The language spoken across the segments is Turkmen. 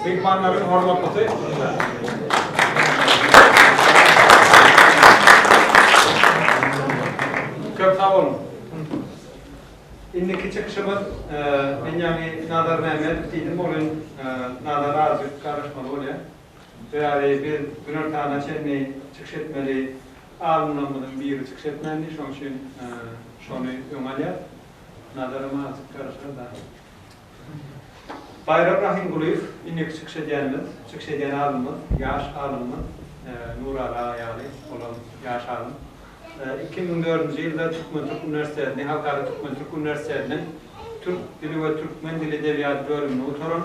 Myhmanlaryň hormatly Köp sag boluň. Indiki çykyşymyz men ýaňy Nazar Mämmedow diýdim, onuň Nazary azajyk garaşmaly bolýar. Sebäbi biz günortana çenli çykyş etmeli alymlarymyzyň biri çykyş etmändi, şonuň üçin şony öňe alýas. Nazarym azjyk garaşar daýy. Baýram Rahymgulyýew, indiki çykyş edýänimiz, çykyş edýän alymymyz, ýaş alymymyz Nuraly aga ýaly, olam ýaş alym. Iki müň dördünji ýylda Türkmen-türk uniwersitetini, Halkara türkmen-türk uniwersitetiniň Türk dili we türkmen dili edebiýady bölümini gutaran,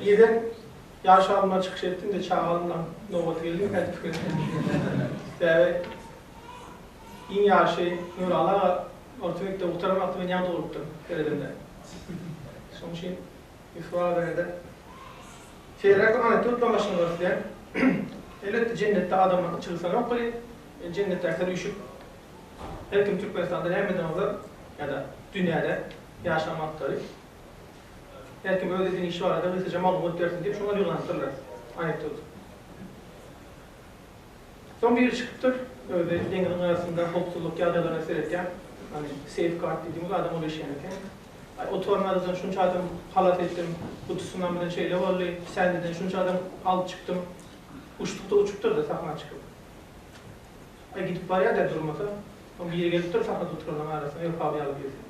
Ýegen, ýaş alymlar çykyş etdiňde çagalymlaň nobaty geldi mi käte pikir etdim. Sebäbi iň ýaşy Nuraly aga orta mekdebi gutaran wagty men ýaňy dogulupdym seredende. Şonuň üçin Ýusup aga barada seýrek aňytda utlan başyny görüpdem. Elbetde jennetde adamlaryň içi gysanok welin, jennetdäkiler üýşüp her kim Türkmenistanda nämeden ozal ýa-da dünýäde ýaşan wagtlary. Her kim öz edýän işi barada gysgaça maglumat bersin diýip şoňa ýygnanypdyrlar. Anekdot. Soň biri çykypdyr, özi deňiziň gyrasynda howpsuzlyk ýagdaýlaryna seretýän, hany, seýf gard diýdigiňiz adam ol işleýän eken. Aý, oturan adadan şunça adam halas etdim, gutusundan bilen şeýle boldy, sändeden şunça adam alyp çykdym. Uçduk-da uçupdyr-da sahna çykyp. Aý, gidip barýar-da durmasa. Soň biri gelipdir sahnada oturanlaryň arasyna, Öwpaby ýaly birisi.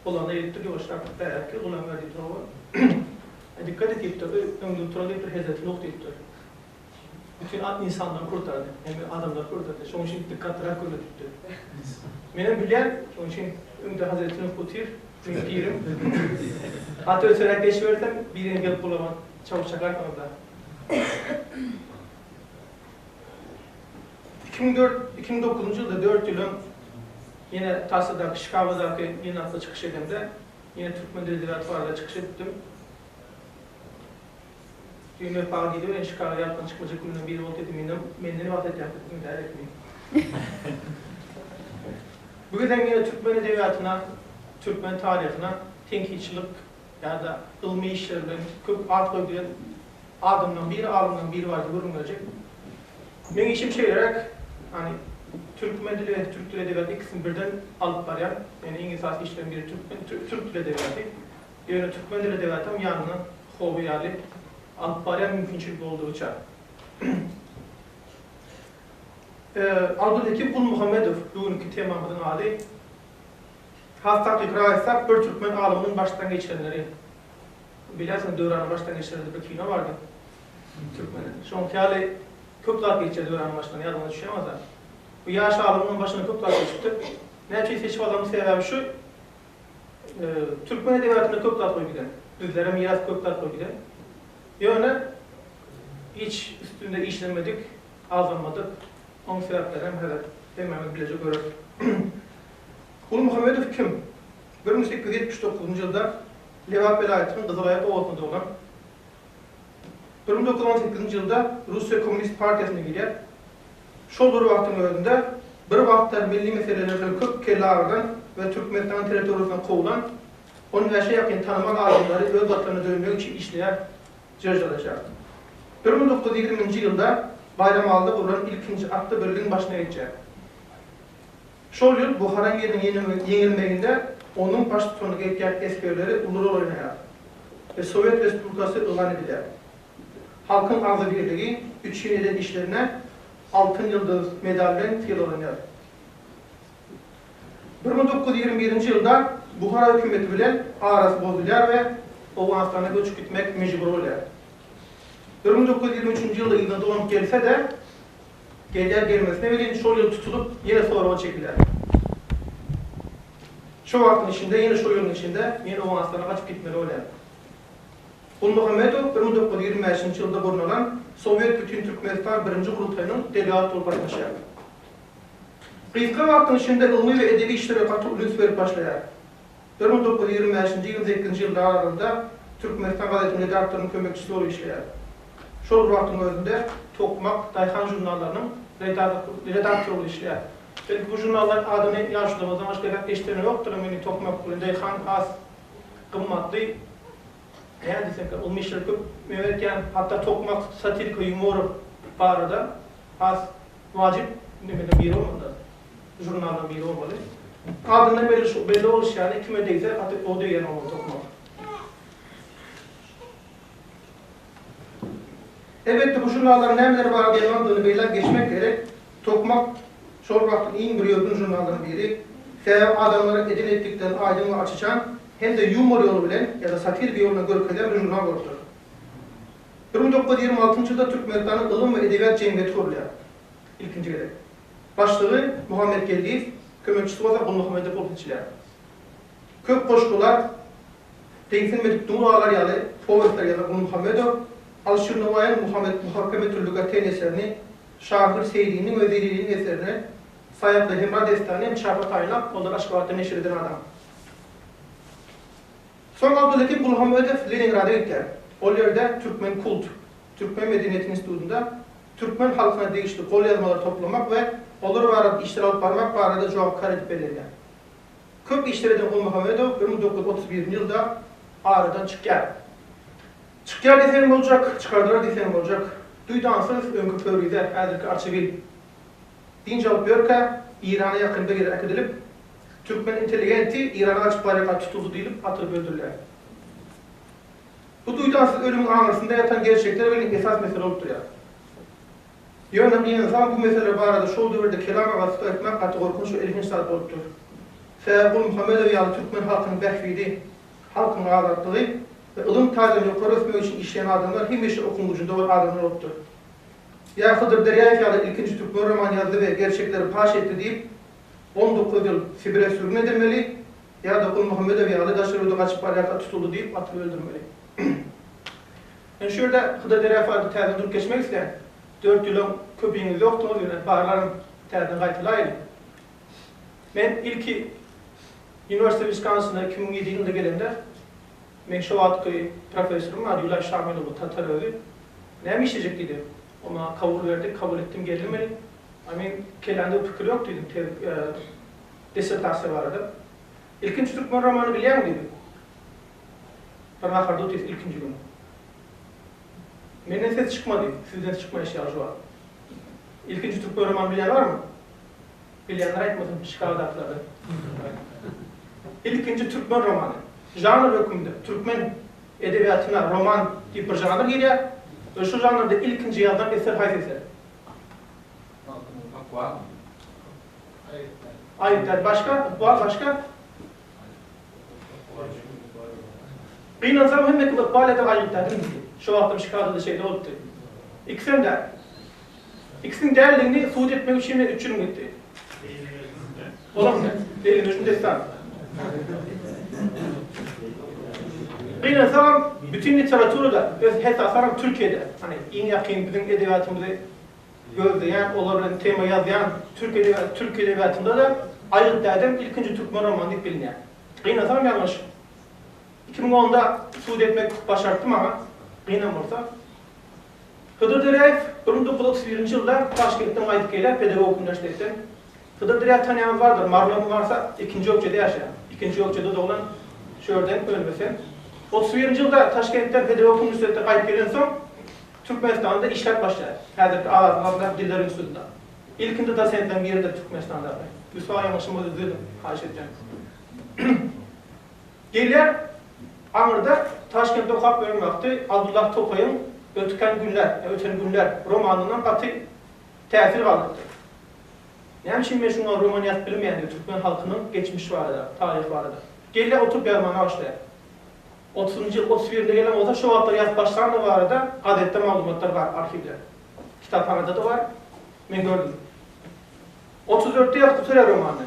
Olanda ýetdi ýuwaşrak bärki gulaga diýipdir oba. Dikkat et diýipdir öý öňde tura diýipdir hezreti Nuh diýipdir. Bütin at insanlar hurdardy. Hemme adamlar hurdardy. Şoň üçin dikkatlyrak gürle diýipdir. Menem bilýän şoň üçin öňde hezreti Nuh otyr meň pirim. At öteräk geçibersem birine gelip gulagyna çawuş çakar soňunda. Iki müň dört, iki müň dokuzynjy ýylda dört ýyl öň ýene Tarsadaky, Şikagadaky ýygnakda çykyş edemde, ýene türkmen dili edebiýaty barada çykyş edipdim. Düýn Wepa diýdi, Welin, Şikaga ýapgyny çykmajak günleriň biri boldy diýdi. Menden, menden nebagt etýäňiz diýdim. Indi häzir etmeýin. Bu gezek ýene türkmen edebiýatyna, türkmen taryhyna tenkitçilik ýa-da ylmy işler bilen köp at goýduýan adamlaryň biri, alymlaryň biri bardy gürrüňdeşik. Meň işim şeýleräk, ýagny türkmen dili we türk dili edebiýaty ikisini birden alyp barýan. Ýagny iň esasy işleriň biri türkmen, türk dili edebiýaty. Ýöne türkmen dili edebiýatam ýanyna hoby ýaly alyp barýan mümkinçilik boldugyça. Abdulhekim Gulmuhammedow, bu günki temamyzyň ady. Has takykrak aýtsak, bir türkmen alymynyň başdan geçirenleri. Bilersiňiz, Döwranyň başdan geçiren diýip bir kino bardy. Türkmeniň. Şoňky ýaly köp zat geçýär Döwranyň başyndan, ýadyňyza düşýär bolsa. Bu ýaş alymynyň başyndan köp zat geçipdir. Näme üçin seçip aldymyň sebäbi şu, türkmen edebiýatynda köp zat goýup giden. Bizlere miras köp zat goýup giden. Ýöne hiç üstünde işlenmedik, agzalmadyk. Oň sebäpleri hem häzir hemmämiz bileje göreris. Gulmuhammedow kim? Bir müň sekiz ýüz ýetmiş dokuzynjy ýylda Lebap welaýatynyň Gyzylaýak obasynda doglan. Bir müň dokuz ýüz on sekizinji ýylda Russiýa Kommunist partiýasyna girýär. Şol bir wagtyň özünde bir wagtlar milli meseleler bilen köp kelle agyrdan we Türkmenistanyň territoriýasyndan kowlan on bäşe ýakyn tanamal adamlary öz Watanyna dönmek üçin işleýär. Jrjyryçar. Bir müň dokuz ýüz ýigriminji ýylda Baýramalyda gurlan ilkinji atly birligiň başyna geçýär. Şol ýyl Buhara emiriniň ýeňilmeginde onuň baştutanlyk etýän esgerleri uly rol oýnaýar we Sowet Respublikasy yglan edilýär. Halkyň agzybirligi üçin eden işlerine Altyn ýyldyz medaly bilen sylaglanýar. Bir müň dokuz ýüz ýigrimi birinji ýylda Buhara hökümeti bilen arasy bozulýar we Owganystana göçüp gitmek mejbury bolýar. Bir müň dokuz ýüz ýigrimi üçünji ýylda yzyna dolanyp gelse-de, gelýär-gelmesine welin şol ýyl tutulyp, ýene soraga çekilýär. Şo wagtyň içinde, ýene şo ýylyň içinde men Owganystana gaçyp gitmeli bolýan. Gulmuhammedow bir müň dokuz ýüz ýigrimi bäşinji ýylda gurnalan Sowet Bütintürkmenistan birinji gurultaýynyň delegaty bolup gatnaşýar. Gysga wagtyň içinde ylmy we edebi işlere gaty uly üns berip başlaýar. Bir müň dokuz ýüz ýigrimi bäşinji ýylyň sekizinji ýyllar aralygynda Türkmenistan gazetiň redaktorynyň kömekçisi bolup işleýär. Şol bir wagtyň özünde Tokmak, Daýhan žurnallarynyň redaktory bolup işleýär. Belki bu žurnallaryň adyny ýaşlarymyzdan başga ýene-de eşideni ýokdur, emma indi Tokmak we Daýhan has gymmatly. Näme diýsek, ylmy işleri köp. Men edýän hatda Tokmak satirika ýumory barada has Wajyp Mehmediň biri bolmanda, žurnallaň biri bolmaly. Adyndan belli bolşy ýaly, kime degse, gaty o degýän oglan topmak. Elbetde, bu žurnallaryň nämelere baglaýandygyny belläp geçmek gerek. Tokmak şol wagtyň iň bir ýörgün žurnallarynyň biri. Sebäbi adamlara eden-etdiklerini aýdyň we aç-açan hem-de ýumor ýoly bilen ýa-da satirik ýol bilen görkezýän bir žurnal bolupdyr. Bir müň dokuz ýüz ýigrimi altynjy ýylda Türkmenistanyň Ylym we edebiýat jemgyýeti gurulýar. Ilkinji gezek. Başlygy Muhammet Geldiýew, kömekçisi bolsa Gulmuhammedow bolup seçilýär. Köp goşgular, Deňsilmedik duň galar ýaly powestleri ýazan Gulmuhammedow Alşir Nowaýyň Muhammet Muhakeme Türli Gateýn eserini, Şahyr Seýriniň we Zeliliniň eserini, Saýaply Hemra dessanyny hem çapa taýynlap, olary Aşgabatda neşir eden adam. Soň Abdulhekim Gulhammedow Leningrada gitýär. Ol ýerde Türkmen kult, Türkmen medeniýeti institutynda türkmen halkyna degişli golýazmalary toplamak we olar barada işler alyp barmak barada jogapkär edip bellenýär. Köp işler eden Gulmuhammedow bir müň dokuz ýüz otuz birinji ýylda aradan çykýar. Çykýar diýseň boljak, çykardylar diýseň boljak. Duýdansyz, öňki Pöwrize, häzirki Arçabil. Dynç alyp ýörkä, Eýrana ýakyn bir ýere äkidilip, Türkmen intelligenti Irana gaçyp barýarka tutuksy diýlip atylyp öldürilýär. Bu duýdansyz ölümiň aňyrsynda ýatan gerçekler welin esas mesele bolup durýar. Ýöne bir ynsan bu meseleler barada şol döwürde kelam agazlyk etmek gaty gorkunç we elhenç zat bolup dur. Sebäbi Gulmuhammedow ýaly türkmen halkynyň bähbidi, halkynyň azatlygy we ylym taýdan ýokary ösmegi üçin işleýän adamlar hemişe okuň gujunda bolan adamlar bolup dur. Ýa Hydyr Derýaýew ýaly ilkinji türkmen roman ýazdy we gerçekleri paş etdi diýip, On dokuz ýyl Sibire sürgün edilmeli ýa-da Gulmuhammedow ýaly daşyryuda gaçyp barýarka tutuldy diýip atyp öldürmeli. Men şu ýerde Hydyr Derefady täzeden durup geçmek islän. Dört ýylam köpiňiz ýokduňyz ýöne barlaryn täzeden gaýtalaýyn. Men ilki Uniwersite Wiskonsinda iki müň ýedi ýylynda gelende meň şo wagtky professorym bar Ýulaý Şamylow bu tatar özi. Näme işlejek diýdi. O maňa kabul berdi, kabul etdim, geldim welin, a men kellämde bu pikir ýok diýdim, tez dissertasiýa barada. Ilkinji türkmen romany bilýäňmi diýdim. Bir nahar dut ýesek ilkinji gün. Menden ses çykmady, sizden çykmaýa şeýle jogap. Ilkinji türkmen romany bilýän barmy? Bilýänler aýtmasyn, Çikagadakylardan. Ilkinji türkmen romany, žanr hökmünde türkmen Edebiýatyna roman diýip bir žanr girýär. Öz şu žanrda ilkinji ýazylan eser haýsy eser? Magtymguly Ykbal. Aýyp däl. Aýyp däl. Başga? Ykbal başga? Gynansaň hemmesi Ykbal ýa-da Aýyp däl. Şu wagtam şikar edildi şeýle bolupdy. Ikisem däl. Ikisiniň däldigini subut etmek üçin men üç ýylymy gitdi. Bolarmy sen? Beýlemejnun dessan. Gynansagam, bütin literaturada, öz hesasaram Türkiýede, hany iň ýakyn biziň edebiýatymyzy gözleýän, olar bilen tema ýazýan türk edebiýaty, türki edebiýatynda-da Aýgyt dädem ilkinji türkmen romany diýip bilinýär. Gynansagam ýalňyş. Iki müň onda subut etmek başartdy maňa, gynam bolsa. Hydyr Döräýew bir müň dokuz ýüz otuz birinji ýylda Taşkentden gaýdyp gelýär, pedagogik uniwersitetden. Hydyr Döräýewi tanýanlar bardyr, Marlony barsa, ikinji ökjede ýaşaýan, ikinji ökjede doglan, şu ýerden ölmese. Otuz birinji ýylda Taşkentden pedagogik uniwersitetden gaýdyp gelensoň, Türkmenistanda işläp başlaýar, häzirki Azatlygyň adyndaky Diller institutynda. Ilkinji dosentleriň biridir Türkmenistandaky. Rüswa ýalňyşyma düzeldiň, haýyş etýän. Gelýär aňyrda Taşkentde okap ýören wagty Abdullah Tokaýyň Ötken günler, ýa Öten günler, romanyndan gaty täsir galypdyr. Näme üçin men şuňa roman ýazyp bilmeýän diýip türkmen halkynyň geçmiş barada, taryh barada. Gelýär oturyp ýazmana başlaýar. Otuzynjy ýyl, otuz birinde gelen bolsa şo wagtlar ýazyp başlandygy barada gazetde maglumatlar bar arhiwde. Kitaphanada-da bar. Men gördüm. Otuz dörtde ýazyp gutarýar romany.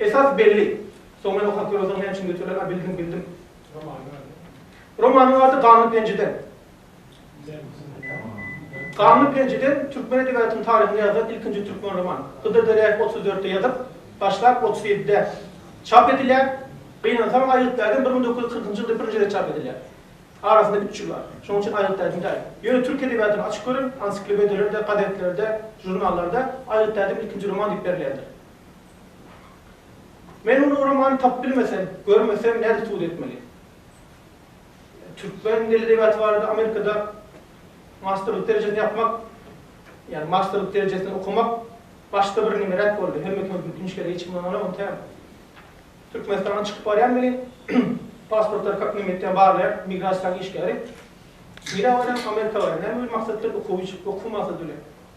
Esas belli. Soň men okap ýörsoň näme üçin göterdiler? A bildim, bildim. Romanyň ady? Romanyň ady Ganly penjeden. Ganly penjeden türkmen edebiýatynyň taryhynda ýazylan ilkinji türkmen romany. Hydyr Derýaýew otuz dörtde ýazyp, başlap otuz ýedide çap edilýär. Gynansaň Aýgytlaýdan bir müň dokuz ýüz kyrkynjy ýylda birinji gezek çap edilýär. Arasynda üç ýyl bar. Şonuň üçin Aýgytlaýdan däl. Ýöne türk edebiýatyny açyp görüň, ansiklopediýalerde, gazetlerde, žurnallarda Aýgytlaýdan ilkinji roman diýip berilýändir. Men ol uramany tapyp bilmesem, görmesem nädip subut etmeli? Türkmen dil edebiýaty barada Amerikada masterlyk derejesini ýapmak, ýagny masterlyk derejesini okamak başda bir nimeräk boldy, hemme kime mümkin şeýle hiç kim ondan alan däl. Türkmenistandan çykyp barýan welin, pasportlary kak neme etýän barlaýan migrasiýanyň işgäri, nirä barýan, Amerika barýan, näme bir maksat bilen, okuw üçin, okuw maksady bilen.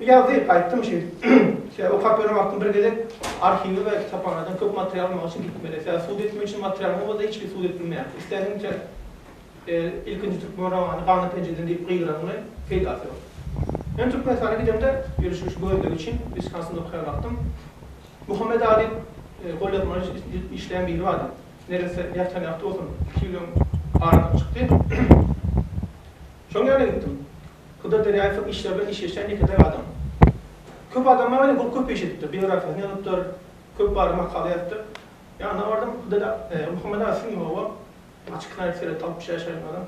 Bu ýazgy aýtdym şeýdip. Sebäbi okap ýören wagtym bir gezek arhiwe we kitaphanadan köp material almak üçin gitmeli. Sebäbi sud etmek üçin materialyň bolsa hiç kim sud edip bilmeýär. Isländigiňi iter. Ilkinji türkmen romany Gana penjeden diýip gygyraňmy peýdasy ýok. Men Türkmenistana gidemde ýörişli şu gözlegi üçin Wiskonsinda okaýan wagtym Muhammet A diýip golýazma işleýän biri bardy. Neresse ýatan ýagty bolsun. Iki ýylyň aradan çykdy. Şoň ýaly gitdim. Huda derýaýewiň işleri bilen işleşýän ýeke-täk adam. Köp adamlar welin ol köp iş edipdir, biografiýasyny ýazypdyr, köp barada makala ýazypdyr. Ýanyna bardym, Hudada Muhammet aga siziň ýoga, açyk nädip seretdi, altmyş ýaşa gelýän adam.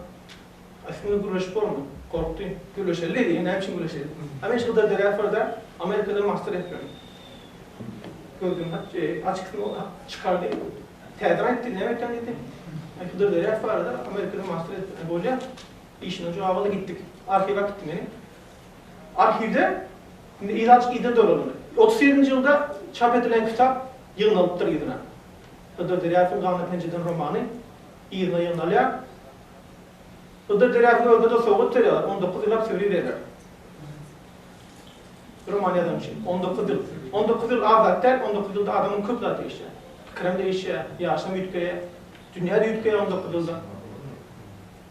A siziň bilen gürleşip bormy? Gorkdy. Gürleşeli diýdi, näme üçin gürleşeli. A men şu Huda derýaýew barada Amerikada master etmelimi. Gözden açyk çykardy. Täze aýtdy näme aýtýan diýdi. Men puda berýäs barada Amerikada master etdirme bolýa. Işiňe jogap al gitdik. Arhiw äkitdi meni. Arhiwde indi ilaç ide dolandy. Otuz sekizinji ýylda çap edilen kitap ýygnalypdyr yzyna. Hydyr Derýasowyň Gana penjeden romany yzyna ýygnalýar. Hydyr Derýasow özüne-de sowgat berýärler, on dokuz ýyllap söri berýär. Roman ýazan üçin on dokuz ýyl. On dokuz ýyl az zat däl, on dokuz ýylda adamyň köp zat değişýär. Pikirem değişýär, ýaşam üýtgeýär. Dünýä-de üýtgeýär on dokuz ýylda.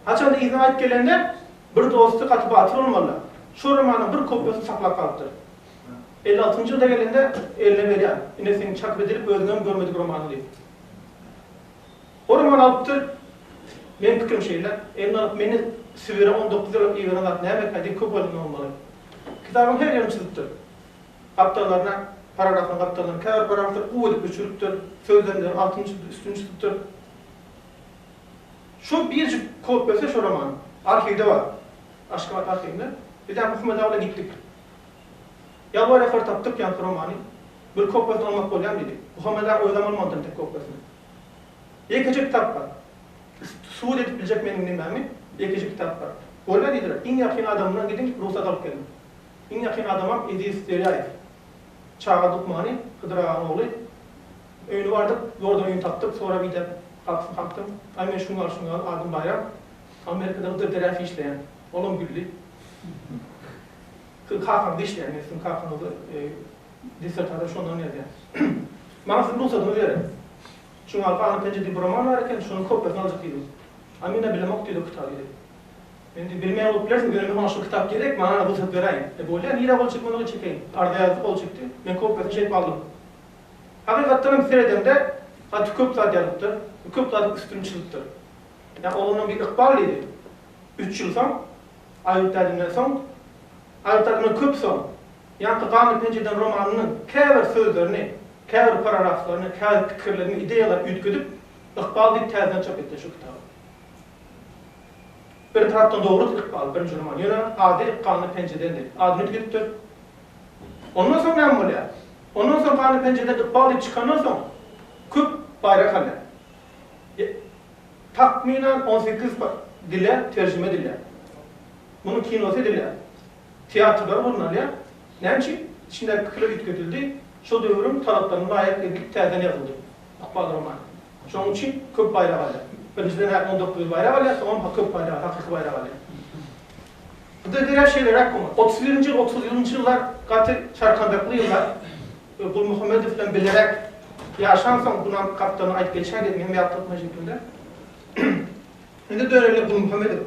Haçanda yzyna gaýyp gelende bir dosty gaty batyr bolmaly. Şol romanyň bir kopýasyny saklap galypdyr. Elli altynjy ýylda gelende eline berýär. Ine seň çakyp edilip özüňem görmedik romanyň diýip. Hormon alyp dur. Meniň pikirim şeýle, elini alyp meni Sibire on dokuz ýyllap iberen zat näme kä diýip köp oýlanmaly. Kitabyň her ýerini çyzypdyr. Gapdallaryna, paragraflaryň gapdallaryna käbir paragraflary guw edip öçüripdir, sözlemleri altyn çyzyp, üstüni çyzypdyr. Şol birjik kopiýasy şo romanyň arhiwde bar. Aşgabat arhiwinde. Biz ýa Muhammet aga bilen gitdik. Ýalbar-ýakar tapdyk ýaňky romany. Bir kopiýasyny almak bolýamy diýdik. Muhammet aga özem almalydyr entek kopiýasyny. Ýekeje kitap bar. Sud edip biljek meniň nimämi? Ýekeje kitap bar. Görüber diýdiler. Iň ýakyn adamymdan gidin, rugsat alyp gelin. Iň ýakyn adamym Eziz Derýaýew. Çaga lukmany, Hydyr agaň ogly. Öýüne bardyk, ýoldan öýüni tapdyk, sorap-idäp, gapysyny kakdym. Aý, men şuňňal, şuňňal, adym Baýram. Amerikada Hydyr Derýaýew işleýän. Olam güldi. Siziň kakaňyz işleýär, men siziň kakaňyzy Dissertasiýa şondan gelýär. Maňa siziň rugsadyňyzy beriň. Çuňňar Kanyň penjede bir romany bar eken, şonuň kopiýasyny aljak diýdim. A men-ä bilemok diýdi o kitaby diýdi. Men diýdim, bilmeýän bolup bilersiňiz, ýöne maňa şol kitap gerek, maňa rugsat beräýiň. E bolýa, nirä gol çekmeli ol çekeýin. Arza ýazdy, gol çekdi. Men kopiýasyny şeýdip aldym. Hakykatdan hem seredende gaty köp zat ýazypdyr, köp zadyň üstüni çyzypdyr. Ýa oglunam bir ykbal diýdi. Üç ýyl soň Aýdyp bärinden soň, aýdylanda köp soň, ýaňky Gany penjeden romanynyň käbir sözlerini, käbir paragraflaryny, käbir pikirlerini, ideýalaryny üýtgedip, Ykbal diýip täzeden çap etdiler şu kitaby. Bir tarapdan dogrudy Ykbal, birinji roman, ýöne ady Gany penjedendi. Adyny üýtgedipdir. Ondan soň näme bolýar? Ondan soň Gany penjeden Ykbal diýip çykandan soň, köp baýrak alýar. takmynan on sekiz dile terjime edilýär. Munuň kinosy edilýär, teatrlara gurnalýar. Näme üçin? Içindäki pikirler üýtgedildi, şol döwrüň talaplaryna laýyk edilip täzeden ýazyldy Ykbal romany. Şonuň üçin köp baýrak alýar. Birinjiden hem on dokuz baýrak alýar, soňam köp baýrak, hakyky baýrak alýar. Bu döwürler şeýleräk bolmaly. Otuz birinji, otuz ýylynyjy ýyllar gaty çarkandakly ýyllar. We Gulmuhammedow bilen bilerek ýaşansoň bulam gapdalyna aýdyp geçýär diýdim hem ýagty okman şekilde. Indi döneýinle Gulmuhammedowa.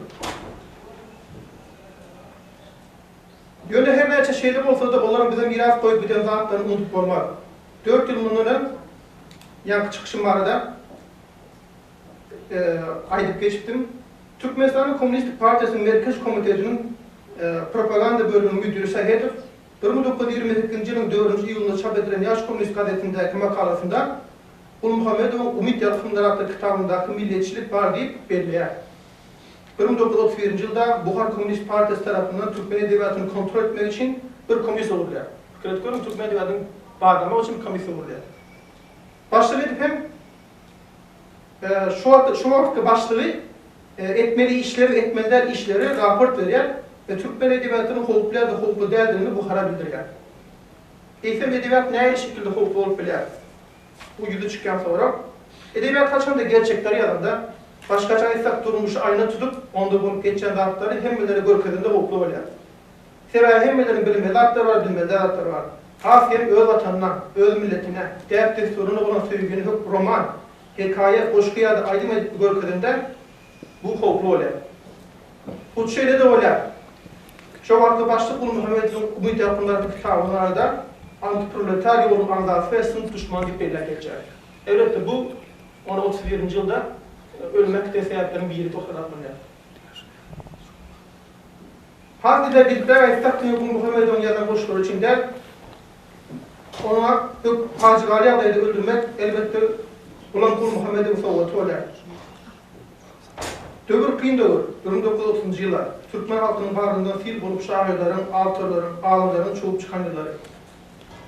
Ýöne her näçe şeýle bolsada olaram bize miras goýup giden zatlaryny unudyp bolmaz. Dört ýyl mundan öň ýaňky çykyşym barada aýdyp geçipdim. Türkmenistanyň Kommunistik partiýasynyň Merkezi komitetiniň propaganda bölüminiň müdiri Sahedow Bir müň dokuz ýüz ýigrimi sekizinji ýylyň dördünji iýulynda çap edilen Ýaş kommunist gazetindäki makalasynda Gulmuhammedowyň Umyt ýalkymlar atly kitabyndaky milliyetçilik bar diýip belleýär. Bir müň dokuz ýüz otuz birinji ýylda Buhar kommunist partiýasy tarapyndan türkmen edebiýatyny kontrol etmek üçin bir komissiýa gurulýar. Pikir edip görüň, türkmen edebiýatyny barlamak üçin bir komissiýa gurulýar. Başlyk edip hem Şu wagtky başlygy etmeli işleri, etmeli däl işleri raport berýär we türkmen edebiýatynyň howply ýa-da howply däldigini Buhara bildirýär. Eýsem edebiýat nähili şekilde howply bolup bilýär? Bu ýüzi çykýan sorag. Edebiýat haçanda gerçekleri ýazanda, başgaça aýtsak durmuşy aýna tutup, onda bolup geçýän zatlary hemmelere görkezende howply bolýar. Sebäbi hemmeleriň bilmeli zatlar bar, bilmeli zatlar bar. Has hem öz Watanyna, öz milletine, däp-dessuryna bolan söýgini hökm roman, hekaýa, goşgy ýa-da aýdym edip görkezende bu howply bolýar. Hut şeýle-de bolýar. Şo wagtky başlyk Gulmuhammedowyň Umyt ýalkymlar atly kitaby barada antiproletar ýoluň agzasy we synp duşmany diýip belläp geçýär. Elbetde bu ony otuz birinji ýylda ölüme äkiten sebäpleriň biri bolup hasaplanýar. Has ilergidipräk aýtsak, Teýegun Muhammedowyň ýazan goşgulary üçin däl, oňa hök pajygaly ýagdaýda öldürmek, elbetde, Gulam Kuly Muhammedowyň sowgaty bolýar. Döwür kyn döwür, bir müň dokuz ýüz otuzynjy ýyllar. Türkmen halkynyň bagryndan sil bolup şahyrlaryň, awtorlaryň, alymlaryň çowup çykan ýyllary.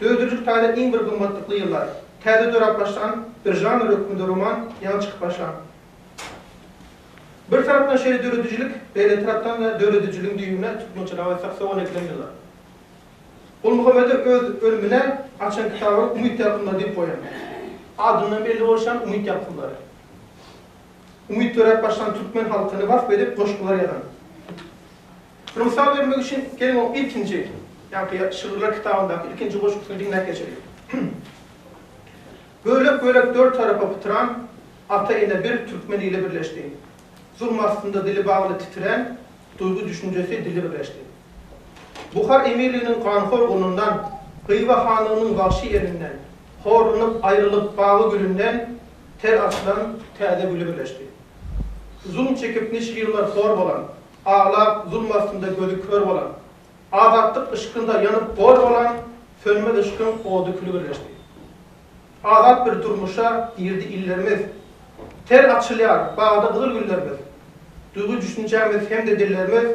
Döwdürijilik taýdan iň bir gymmatlykly ýyllar. Täze dörap başlan bir žanr hökmünde roman ýaňy çykyp başlan. Bir tarapdan şeýle döredijilik, beýleki tarapdan-da döredijiligiň düýbüne tutmaçylyga we saksawula edilen ýyllar. Gulmuhammedow öz ölümine açan kitabyny Umyt ýalkymlary diýip goýan. Adyndan belli bolşy ýaly umyt ýalkymlary. Umyt döräp başlan türkmen halkyny wasp edip goşgular ýazan. Muny mysal bermek üçin geliň oň ilkinji, ýaňky şygyrlar kitabyndaky ilkinji goşgusyny diňläp geçeliň. Bölek-bölek dört tarapa pytyran, Ata-ene bir türkmen ili birleşdi. Zulum astynda dili bagly titirän, duýgy-düşünjesi dili birleşdi. Buhar emirliginiň ganhor gulundan, Hywa hanlygynyň wagşy elinden, horlanyp aýrylyp bagy gülünden ter açylan täze güli birleşdi. Zulum çekip niçe ýyllar hor bolan, aglap zulum astynda gözi kör bolan, azatlyk yşkynda ýanyp gor bolan sönmez yşkyň ody-küli birleşdi. Azat bir durmuşa girdi illerimiz. Ter açylýar bagda gyzyl güllerimiz. Duýgy-düşünjämiz hem-de dillerimiz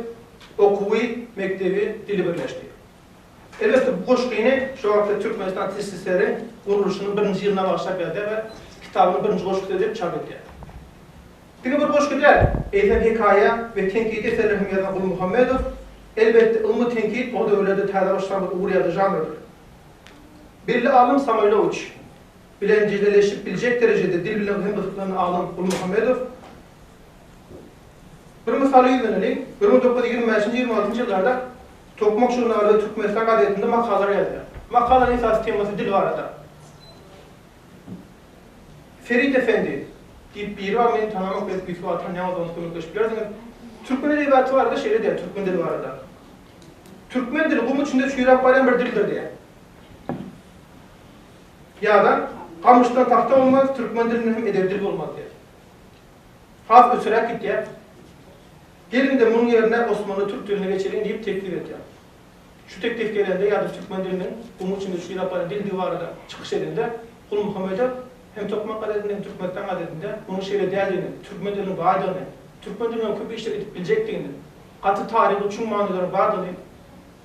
Okuwy, mekdebi, dili birleşdi. Elbetde, bu goşgyny şol wagtky Türkmenistan TSSR-iň gurluşynyň birinji ýylyna bagyşlap ýazýar we kitabynyň birinji goşgusy edip çap edýär. Diňe bir goşgy däl, eýsem hekaýa we tenkidi eserler hem ýazan Gulmuhammedow, elbetde, ylmy tenkit o döwürlerde täze başlangyç ugur ýazyjy žanrydyr. Belli alym Samoýlowiç bilen jideleşip biljek derejede dil bilen hem gyzyklanýan alym Gulmuhammedow Bir mysaly ýüzleneliň, bir müň dokuz ýüz ýigrimi bäşinji, ýigrimi altynjy ýyllarda Tokmak žurnaly we Türkmenistan gazetinde makalalar ýazylýar. Makalanyň esasy temasy dil barada. Ferit Efendi diýip biri bar, meni tananok, belki ýüzügi atan ýaňydygyňyz kömekleşip bilersiňiz. Türkmen edebiýaty barada şeýle diýýär, türkmen dili barada. Türkmen dili gum içinde çüýräp barýan bir dildir diýýär. Ýa-da Gamyşdan tagta bolmaz, türkmen dilinden hem edebi dil bolmaz diýýär. Has öçüräk gitýär. Geliň-de munuň ýerine osmanly türk diline geçeliň diýip teklip edýär. Şu teklip gelende ýa-da türkmen diliniň gum içinde çüýräp barýan dildigi barada çykyş edende Gulmuhammedow hem Tokmak gazetinde hem Türkmenistan gazetinde munuň şeýle däldigini, türkmen diliniň baýdygyny, türkmen dilinden köp işler edip biljekdigini, gaty taryhy çuň manylary bardygyny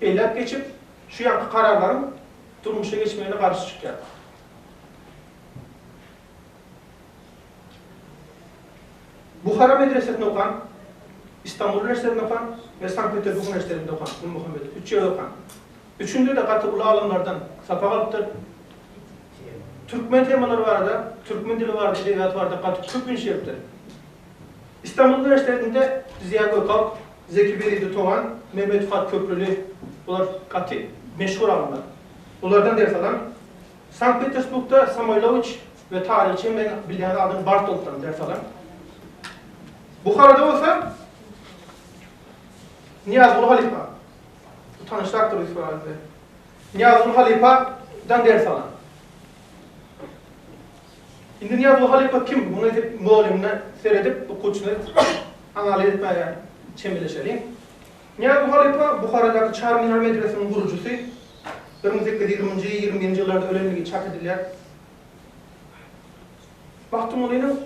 belläp geçip, şu ýanky kararlaryň durmuşa geçmegine garşy çykýar. Buhara medresesinde okan, Istanbul uniwersitetinde okan we Sankt-Peterburg uniwersitetinde okan Gulmuhammedow üç ýerde okan. Üçünde-de gaty uly alymlardan sapak alypdyr. Türkmen temalary barada, türkmen dili barada, edebiýaty barada gaty köp iş beripdir. Istanbul uniwersitetinde Ziýa Gökalp, Zeki Beridi Togan, Mehmet Fuat Köprüli, bular gaty meşhur alymlar. Bulardan ders alan. Sankt-Petersburgda Samoýlowiç we taryhçy men bilýän adam Bartoltdan ders alan. Buharada bolsa Nyýazguly halypa, bu tanyşrakdyr Ýusup aga size. Nyýazguly halypadan ders alan. Indi Nyýazow halypa kim? Muny edip mugallymyna seredip okuwçyny analiz etmäge çemeleşeliň. Nyýazow halypa Buharadaky Çar minar medresiniň gurujysy, bir müň sekiz ýüz ýigriminji, ýigrimi birinji ýyllarda ölendigi çak edilýär. Magtymgulynyň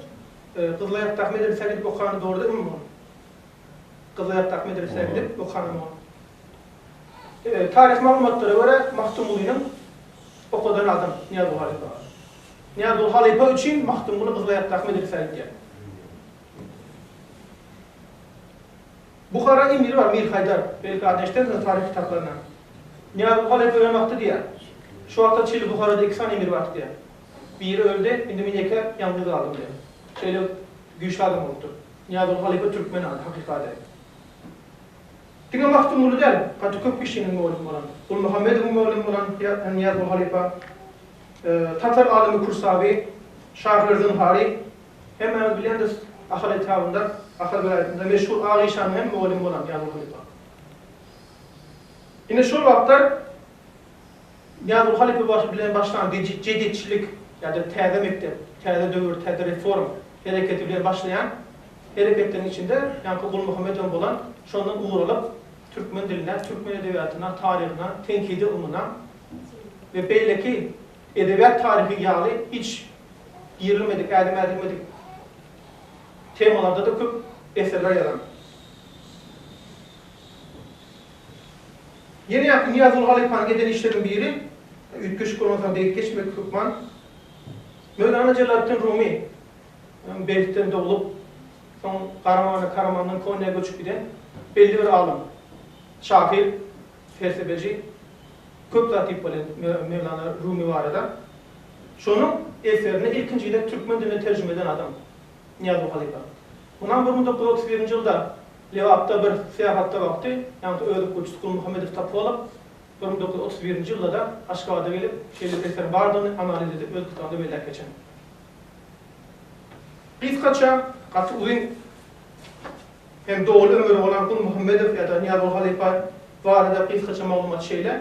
Gyzylaýakdaky medresä gidip okany dogry dälmi mugalym? Gyzylaýakdaky medresä gidip okanam ol. Taryhy maglumatlara görä, Magtymgulynyň okadan adam Nyýazguly halypa. Nyýazguly halypa üçin Magtymguly Gyzylaýakdaky medresä gidýär. Buhara emiri bar, Mir Haýdar. Belki adyny eşidersiňiz taryh kitaplaryndan. Nyýazguly halypa ölen wagty diýýär. Şu wagta çenli Buharada iki sany emir bardy diýýär. Biri öldi, indi men ýeke ýalňyz galdym diýýär. Şeýle güýçli adam bolupdyr. Nyýazguly halypa türkmen ady, hakyky ady. Diňe Magtymguly däl, gaty köp kişiniň mugallym bolan, Gulmuhammedowyň mugallym bolan Nyýazguly halypa, tatar alymy Kürsawy, şahyr Zynhary, hemmämiz bilýändiris, Ahal etrabynda, Ahal welaýatynda meşhur Ak işanyň hem mugallym bolan Nyýazguly halypa. Ine şol wagtlar Nyýazow halypa baş bilen başlan jediçilik ýa-da täze mekdep, täze döwür, täze reform hereketi bilen başlaýan hereketleriň içinde ýaňky Gulmuhammedowyň bolan şondan ugur alyp, türkmen diline, türkmen edebiýatyna, taryhyna, tenkidi ylmyna we beýleki edebiýat taryhy ýaly hiç girilmedik, ädim ädilmedik temalarda-da köp eserler ýazan. Ýene ýa-da Nyýazguly halypanyň eden işleriniň biri, üýtgeşik bolmasam, degip geçmek hökman, Möwlana Jelaleddin Rumy, Belhitden doglup, soň Garamana, Karamandan Konýa göçüp giden belli bir alym, şahyr, pelsepeçi, köp zat diýip bolýar Möwlana Rumy barada. Şonuň eserini ilkinji gezek türkmen diline terjime eden adam, Nyýazow halypa. Mundan bir müň dokuz ýüz otuz birinji ýylda Lebapda bir syýahatda wagty, ýaňky öz okuwçysy Gulmuhammedow Topolow bir müň dokuz ýüz otuz birinji ýylda-da Aşgabada gelip, şeýle eseriň bardygyny analiz edip öz kitabynda belläp geçen. Gysgaça, gaty uzyn hem doly ömüri bolan Gulmuhammedow ýa-da Nyýazow halypa barada gysgaça maglumat şeýle.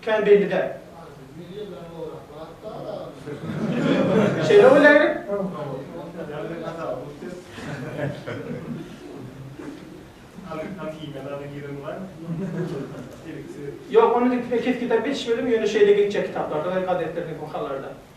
Kän belli däl. Şeýle bolýar gerek. Ýok, ony indi kesgitläp geçişmedim, ýöne şeýle geçýär kitaplarda we gazetlerde, bu halarda.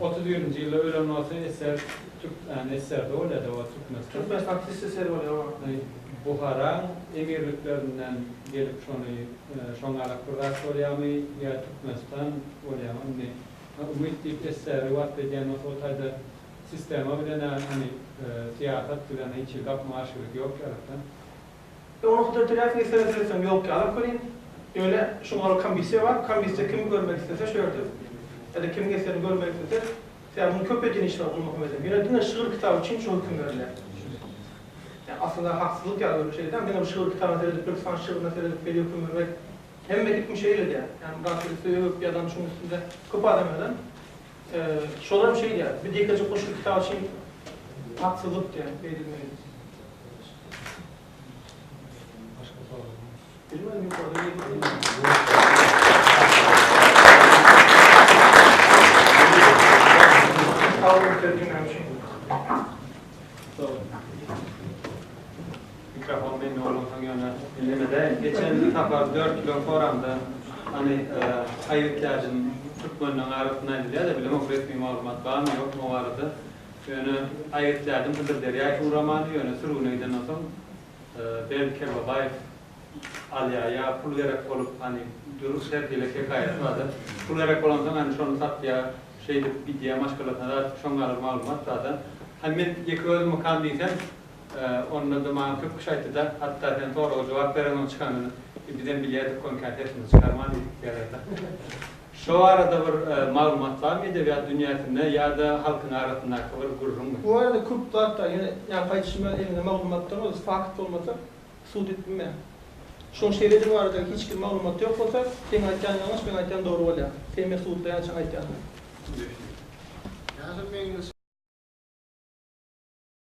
Otuz birinji ýylda ölen bolsa eser Türkmän eserde bolýada o Türkmenistan. Türkmen taksist eseri bolýar o. Buharaň emirliklerinden gelip şony şoňalak bir zat bolýamy ýa Türkmenistan bolýamy indi Umyt diýip eseri wasp edýän bolsa o taýda sistema bilen-ä ony syýasat bilen hiç hili gapma-garşylygy ýok ýalyk-da. Ýok ony hujjat döreýäs indi seni döretsem ýok diýip alyp görýin. Ýöne şuň ora komisiýa bar, komisiýa kimi görmek islese şu ýerde ýa-da kimiň eserini görmek islese sebäbi muny köp edýän işler Gulmuhammediň. Ýöne diňe şygyr kitaby üçin şu höküm berilýär. Ýa aslynda haksyzlyk ýaly görnüp şeýdýän diňe bir şygyr kitabyna seredip Türküstan şygryna seredip şeýle höküm bermek hemme hikmi şeýle diýýär. Ýa Murad Özi öwüp ýazan şuň üstünde köp adam ýazan. Şolam şeýle, bir dekeje goşgy kitaby üçin haksyzlyk diýen beýdilmeli. Başga soraglar? Mikrofon mende bolmansoň ýöne ellemedäýin. Geçen sapar dört kilo soramda hany Aýyp täjim türkmenleň arasynda aýdylýar-da bilemok resmi maglumat barmy ýokmy o barada. Ýöne Aýyp täjim Hydyrderýa Suramany ýöne sürgüne gidenden soň Berdi Kerbabaýew alýar ýa pul gerek bolup hany durus her hili hekaýasy barda pul gerek bolansoň hany şony satýar şeýdip gidýär maşgalasyna zat şoňa bir maglumat barda. Hany men ýeke özümikam diýsem Onda-da maňa köp kişi aýtdy-da, Hatda sen soraga jogap bereňok çykanyny, bizem bilýärdik konkä sesiňi çykarman diýip diýerler-de. Şo barada bir maglumat barmy edebiýat dünýäsinde ýa-da halkyň arasyndaky bir gürrüňmi? Bu barada köp zat bar, ýöne ýaňky aýdyşym ýaly elinde maglumatdan bolsa, fakt bolmasa sud edip bilmeýär. Şoň şeýledi barada hiç kim maglumat ýok bolsa, seň aýtýan ýalňyş, meň aýtýan dogry bolýar. Sen meni sudlaýançaň aýtýanyňy. Ýa şol meň.